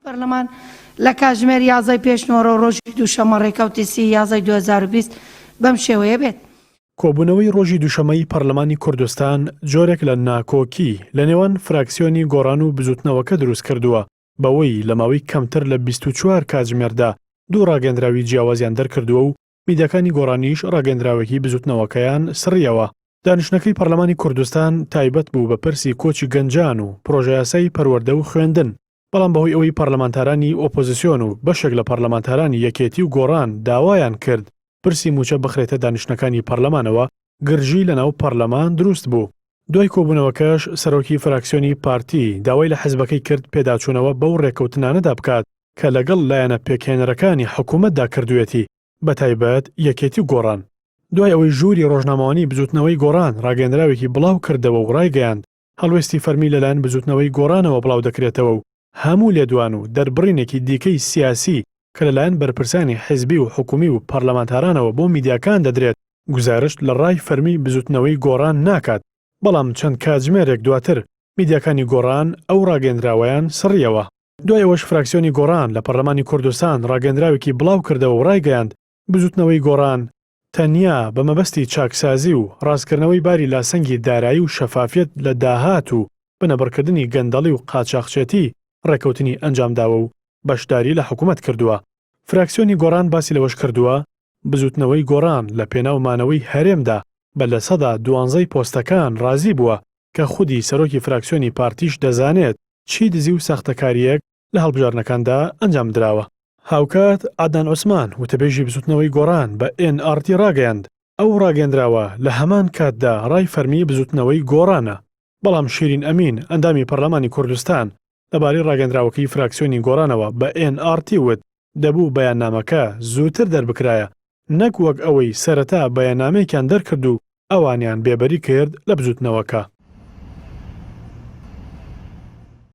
پەرلەمان لە کاتژمێر یازدەی پێش نۆرە و ڕۆژی دووشەممە ڕێکەوتی سی یازدەی دوو هەزار و بیست بەم شێوەیە بێت. کۆبوونەوەی ڕۆژی دووشەممەی پەرلەمانی کوردستان جۆرێک لە ناکۆکی لە نێوان فراکسیۆنی گۆڕان و بزووتنەوەکە دروست کردووە بەوەی لە ماوەی کەمتر لە بیست و چوار کاتژمێردا دوو ڕاگەندراوی جیاوازیان دەرکردووە و میدیاکانی گۆڕانیش ڕاگەندراوێکی بزوتنەوەکەیان سڕیەوە. دانیشتنەکەی پەرلەمانی کوردستان تایبەت بوو بە پرسی کۆچی گەنجان و پرۆژەیاسای پەروەردە و خوێندن، بەڵام بەهۆی ئەوەی پەرلەمانتارانی ئۆپۆزسیۆن و بەشێک لە پەرلەمانتارانی یەکێتی و گۆڕان داوایان کرد پرسی موچە بخرێتە دانیشتنەکانی پەرلەمانەوە، گرژی لەناو پەرلەمان دروست بوو، دوای کۆبوونەوەکەش سەرۆکی فراکسیۆنی پارتی داوای لە حزبەکەی کرد پێداچوونەوە بەو رێککەوتنانەدا بکات کە لەگەڵ لایەنە پێکهێنەرەکانی حکوومەتدا کردوویەتی، بەتایبەت یەکێتی و گۆڕان. دوای ئەوەی ژووری رۆژنامەوانیی بزووتنەوەی گۆڕان راگەیێندراوێکی بڵاوکردەوە و رایگەیاند، هەڵوێستی فەرمی لەلایەن بزووتنەوەی گۆڕانەوە بڵاودەکرێتەوە و هەموو لێدوان و دەربڕینێکی دیکەی سیاسی کە لەلایەن بەرپرسانی حزبی و حکومی و پەرلەمانتارانەوە بۆ میدیاکان دەدرێت، گوزارشت لە ڕای فەرمی بزووتنەوەی گۆڕان ناکات، بەڵام چەند کاتژمێرێک دواتر میدیاکانی گۆڕان ئەو ڕاگەیەندراوەیان سڕییەوە. دوای ئەوەش فراکسیۆنی گۆڕان لە پەرلەمانی کوردستان ڕاگەیەندراوێکی بڵاوکردەوە و ڕایگەیاند، بزوتنەوەی گۆڕان تەنیا بە مەبەستی چاکسازی و ڕاستکردنەوەی باری لاسەنگی دارایی و شەفافیەت لە داهات و بنەبڕکردنی گەندەڵی و قاچاخچێتی ڕێکەوتنی ئەنجامداوە و بەشداری لە حکومەت کردوە. فراکسیۆنی گۆڕان باسی لەوەشکردوە، بزوتنەوەی گۆڕان لە پێناو مانەوەی هەرێمدا بە لە سەدا دوانزەی پۆستەکان ڕازی بوە کە خودی سەرۆکی فراکسیۆنی پارتیش دەزانێت چی دزی و ساختەکاریەک لە هەڵبژاردنەکاندا ئەنجام دراوە. هاوکات عەدنان عوسمان، وتەبێژی بزوتنەوەی گۆڕان بە ئێن ئاڕ تی ڕاگەیاند، ئەو ڕاگەیەندراوە لە هەمان کاتدا ڕای فەرمی بزوتنەوەی گۆڕانە، بەڵام شیرین ئەمین، ئەندامی پەرلەمانی کوردستان لەبارەی ڕاگەیەندراوەکەی فراکسیۆنی گۆڕانەوە بە ئێن ئاڕ تی وت، دەبوو بەیاننامەکە زووتر دەربکرایە، نەک وەک ئەوەی سەرەتا بەیاننامەیەکیان دەرکرد و ئەوانیان بێبەری کرد لە بزوتنەوەکە.